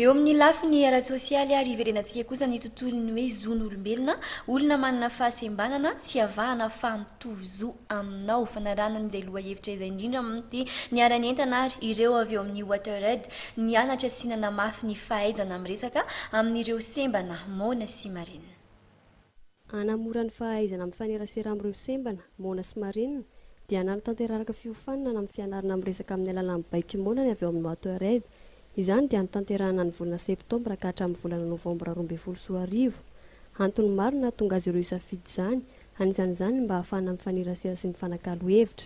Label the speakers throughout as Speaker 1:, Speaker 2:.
Speaker 1: Eo amin'ny lafiny ara-tsosialy ary iverenantsika kosa ny tontolon'ny hoe zon'olombelona, olona manana fahasembanana, tsy avahana fa mitovy zo aminao. Fanaranana izay lohahevitra izay indrindra moa dia niharan'ny entana ary ireo avy eo amin'ny WaterAid nianatra sy nanamafy ny fahaizana miresaka amin'ireo sembana moana sy marina.
Speaker 2: Hanamora ny fahaizana mifanerasera amin'ireo sembana, moana sy marenina, dia nanatanteraraka fiofanana amin'ny fianarana miresaka amin'ny alalan'ny baiko moana ny avy ao amin'ny Watered. Izany dia notanterahina ny volana septambra ka hatramin'ny volana novambra roa ambin'ny folo sy roa arivo. Antony maro no nahatonga azy ireo hisafidy izany, anisan'izany ny mba hahafahana mifanerasera sy mifanakalo hevitra.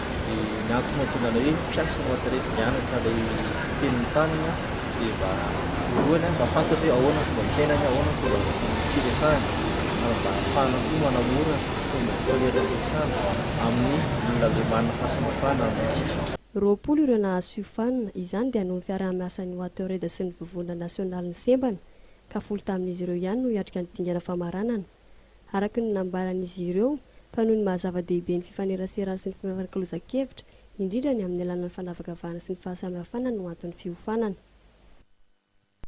Speaker 3: dia ny antony mahatonga anay hoe mpiasa no atao rehefa mianatra ilay teny mitanina dia mba voalohany a mba fantatra hoe ahoana ny fomba fiainany, ahoana ny fomba firesahany ary mba ahafahana koa manamora ny fomba fifanerahan'ny mpiasana amin'ny olona avy manana fahasamihafana amintsika. Roapolo ireo
Speaker 2: nahazo fiofanana, izany dia noho ny fiaraha-miasan'ny Watered sy ny Vovonana Nasionalin'ny Sembana, ka folo tamin'izy ireo ihany no hiatrika ny dingana famaranana. araka ny nambaran'izy ireo, fa noho ny maha-zava-dehibe ny fifaneraserana sy ny fifanakalozan-kevitra, indrindra ny amin'ny alalan'ny fanavakavahana sy ny fahasamihafana no anton'ny fiofanana.